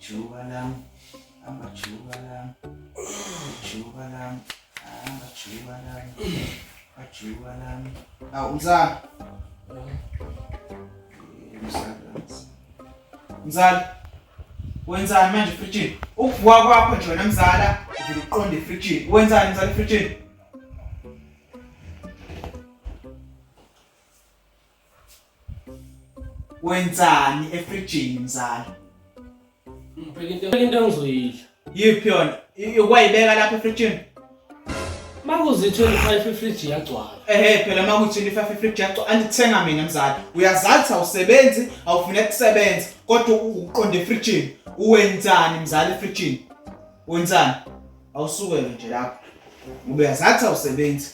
Ijuba lami, hamba juba lami. Ijuba lami, hamba juba lami. Ajuba lami. Awu umzala. Mzala. Wenzani manje fridge? Ukuvuka kwakho nje wena mzala, uvile uqonde fridge. Wenzani mzala fridge? Wenzani efrijini mzala? Ngibheka into into engizoyidla. Yiphi yona? Ukwayibeka lapha efrijini? Makuzi 25 ifriji yagcwala. Ehhe phela makuthi 25 ifriji yagcwala andithenga mina mzala. Uyazathi awusebenzi, awufune kusebenza kodwa uqonde efrijini. Uwenzani mzala efrijini? Wenzani? Awusukele nje lapha. Ngoba uyazathi awusebenzi.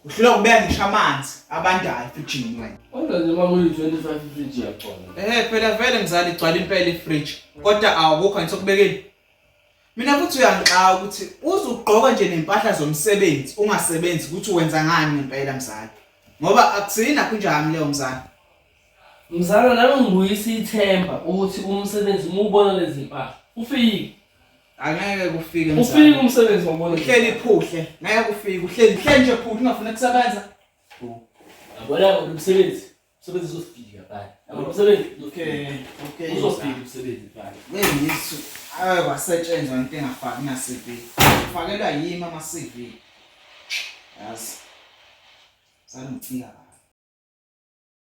Uhlula kubeka ngisho amanzi abandayo efrijini wena. Kodwa nje uma kuyi-25 ifriji yagcwala. Eh phela vele mzali igcwala impela ifriji kodwa awukho ngithe kubekeni. Mina futhi uyangixaka ukuthi uzugqoka nje nempahla zomsebenzi ungasebenzi ukuthi wenza ngani ngempela mzali. Ngoba akusini nakho njami leyo mzali. Mzala nami ngibuyisa ithemba ukuthi umsebenzi mubona lezi mpahla ufike. Angeke kufike mzala. Ufike umsebenzi wabona. Uhleli phuhle. Ngeke kufike. Uhleli uhleli nje phuhle ungafuna kusebenza. Yabona umsebenzi. Umsebenzi uzofika bani. Yabona umsebenzi. Okay. Okay. Uzofika umsebenzi bani. Ngeyisu. Ayi wasetshenzwa into engafaki na CV. Ufakelwa yimi ama CV. Yazi. Sangicinga.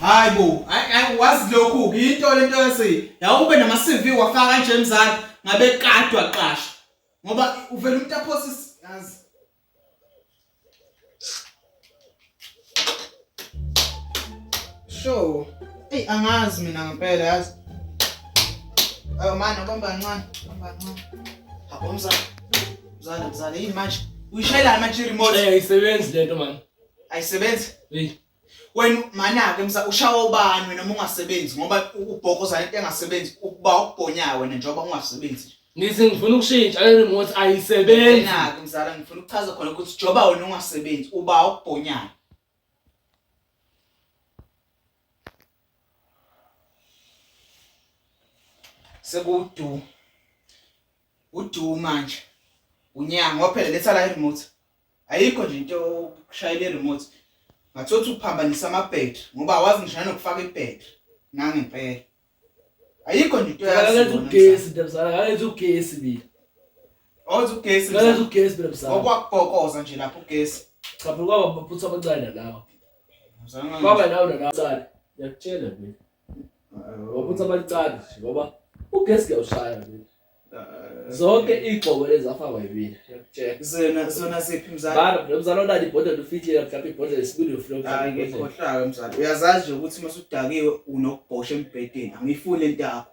Hayi bo, hayi wazi lokhu into lento yase. Yawube nama CV wafaka kanje mzali ngabe kadwa qasha. Ngoba uvela umuntu aphosi yazi. Sure. Ey angazi mina ngempela yazi. Ayo manje ubamba kancane, ubamba kancane. Habo mzali. Mzali mzali yini manje? Uyishayela manje remote. Eh isebenzi lento manje. ayisebenzi hey wena manake msa ushawa ubani wena uma ungasebenzi ngoba ubhokoza into engasebenzi ukuba ukubhonyayo wena njengoba ungasebenzi ngithi ngifuna ukushintsha le remote ayisebenzi nake mzala ngifuna ukuchaza khona ukuthi joba wena ungasebenzi uba ukubhonyayo sekudu udu manje unyanga ngoba phela letha la remote ayikho nje into yokushayela i-remote ngathothi uphambanisa amabhetri ngoba awazi ngishaya nokufaka ibhetri nangempela ayikho nje into yaletha ugesi ndabzala ngaletha ugesi mina othi ugesi ngaletha ugesi mina mzala okwakugokoza nje lapho ugesi cha phela kwaba maphutha amancane lawo kwaba nawo nalawo ngiyakutshela mina ngokuthi abalicani ngoba ugesi kuyawushaya nje zonke iy'gxobo ezafakwa yimina zona zona siphi mzala bana lo mzala onani ibhodlela ufihlile mhlawumbe ibhodlela esibili ufilokhohlayo mzala uyazazi nje ukuthi uma usudakiwe unokubhosha embhedeni angiyifuni into yakho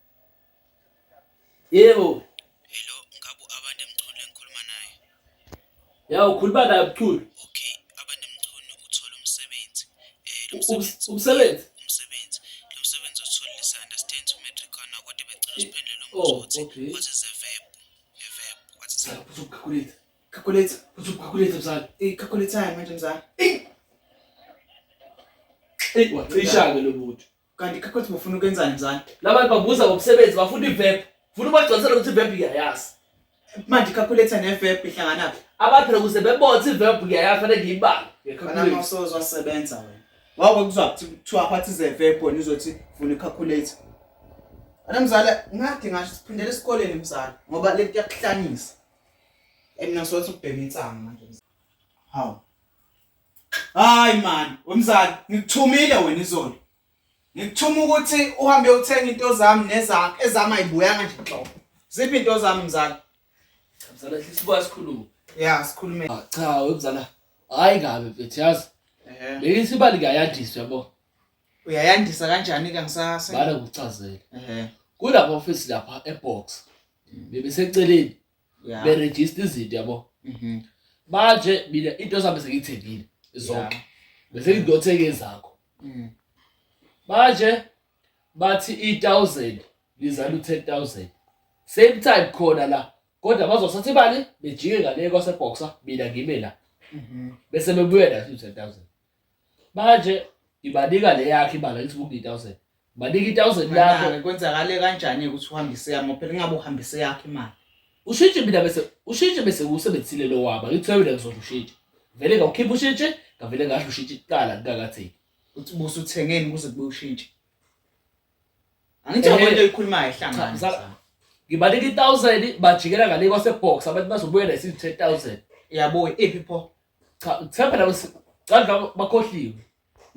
Yebo. Hello, ngabu abande mchunu lengikhuluma naye. Ya ukhuluma naye mchunu. Okay, abande mchunu uthola umsebenzi. Eh lo msebenzi. Umsebenzi. Umsebenzi. Lo msebenzi othola is understand to matric on kodwa becela usiphendule lo oh, mbuzo ukuthi what is a verb? A verb. What is a verb? Calculate. Calculate. Calculate mzali. Eh calculate manje mzali. Eh. Eh wacisha ke lo muntu. Kanti kakwethi bufuna ukwenzani mzala? Labantu babuza ngomsebenzi bafuna iverb. Funa ubagcwalisela ukuthi iverb iyayazi. Manje calculator neverb ihlangana phi? Abaphela kuze bebothe iverb ngiyayazi fanele ngiyibale. Kana mawusozo wasebenza wena. Wawe kuzwa kuthiwa phathi ze verb wena uzothi funa icalculator. Ana mzala ngathi ngasho siphindele esikoleni mzala ngoba le nto yakuhlanyisa. Emina sothi ubhema insangu manje. Hawu. Hayi man, wemzali, ngikuthumile wena izolo. Ngikuthuma ukuthi uhambe uthenga into zami nezakho ezami ayibuyanga nje nhlobo. Ziphi into zami mzali? Cha mzala sisibuya sikhulume. Yeah, sikhulume. Ah, cha wemzala. Hayi kabi mfethu yazi. Eh. Leli sibali kuyayandiswa yabo. Uyayandisa kanjani ke ngisase? Bala ukuchazela. Eh. Kulapha office lapha ebox. Bebeseceleni Yeah. berejista izinto yabo Mhm. manje mina into zami sengiyithengile zonke bese ngidothenga ezakho Mm. manje bathi i-1000 lizala u-10000 same time khona la kodwa bazosatha imali bejike ngale kwaseboxer mina ngime la Mhm. bese bebuye la u-10000 manje ibanika le yakhe ibala lithi buku i-thousand banika i-thousand yakho Manje kwenzakale kanjani ukuthi uhambise yami phela ingabe uhambise yakhe imali ushintshe mina bese ushintshe bese usebenzisile lo waba ngithiwe mina ngizodla ushintshe vele ngawukhipha ushintshe ngavele ngadla ushintshe kuqala ngingakatheki ukuthi busa uthengeni kuze kube ushintshe angithi Eh, kwento ikhulumayo cha, ehlangana msala- ngibanika i-thousand bajikela ngale kwasebox abantu bazobuya nesithi ten thousand yabo iphi pho Cha uthemba labo si- cha labo bakhohliwe.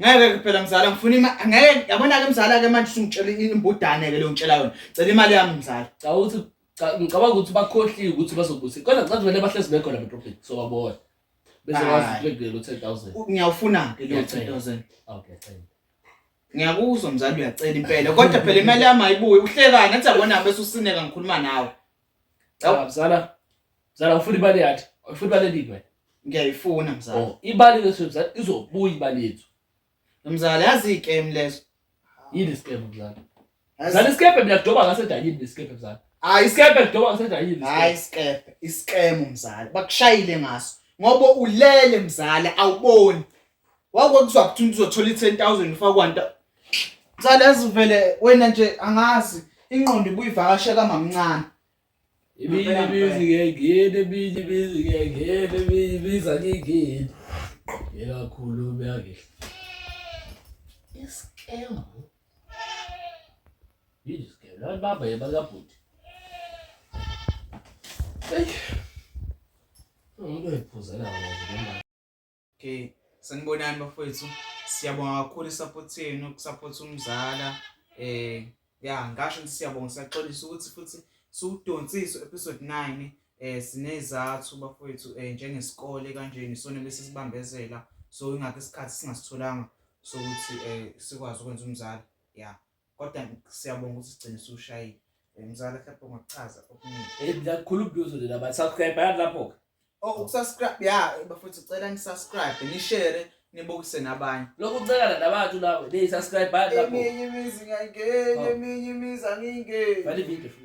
ngeke ke phela mzala ngifuna ima ngeke yabona ke mzala ke manje usungitshela imbudane ke leyo ngitshela yona cela imali yami mzala Cha uthi cha ngicabanga ukuthi bakhohliwe ukuthi bazobusa. Kodwa cha vele bahlezi bekhona beprofit so babona. Bese Hayi. wazi bekugelo 10000. U- ngiyawufuna ke leyo Ngiyacela. 10000 Okay, cha. ngiyakuzwa mzala uyacela impela kodwa phela imali yami ayibuye uhlekani athi yabona bese usineka ngikhuluma nawe Cha mzala. Mzala ufuna imali yakhe. Ufuna imali eningi wena. Ngiyayifuna mzala. Oh, imali leso mzala izobuya imali yethu. Mzala yazi ikem leso. Yini iskemu mzala? Mzala iskemu mina kudoba ngase dayini iskemu mzala. Hayi iskemu kudoba ngase dayini. Hayi iskemu, iskemu mzala. Bakushayile ngaso. Ngoba ulele mzala awuboni. Wako kuzwa ukuthi uzothola i-10000 ufakwanta. Cala yazi vele wena nje angazi ingqondo ibuyivakashe kamamncane. Ibili bizi ke ngene bili bizi ke ngene bili biza ke ngene. Ekakhulu beyake. Iskemu. Yini iskemu? Laba baba yebakabhuti. Hey. Umuntu ephuzela wona. Okay, sanibonani bafowethu. Siyabonga kakhulu isupport yenu, ukusupport umzala. Eh, ya ngasho ukuthi siyabonga siyaxolisa ukuthi futhi siwudonsise episode 9 eh sinezathu bafowethu eh njengesikole kanje nisona bese sibambezela so ingakho isikhathi singasitholanga sokuthi eh sikwazi ukwenza umzali. Yeah. kodwa siyabonga ukuthi sigcine siwushayile Eh, mzala mhlawumbe ungachaza okuningi Eh, lakhulu ubuzo leli abantu subscribe yani lapho-ke oh ukusubscribe ya bafethu cela nisubscribe nishere nibukise nabanye lokhu ucekana nabantu lawe leyi subscribe yani lapho eminye imizi ngiyayingena Oh. eminye imizi angiyingeni vale video futhi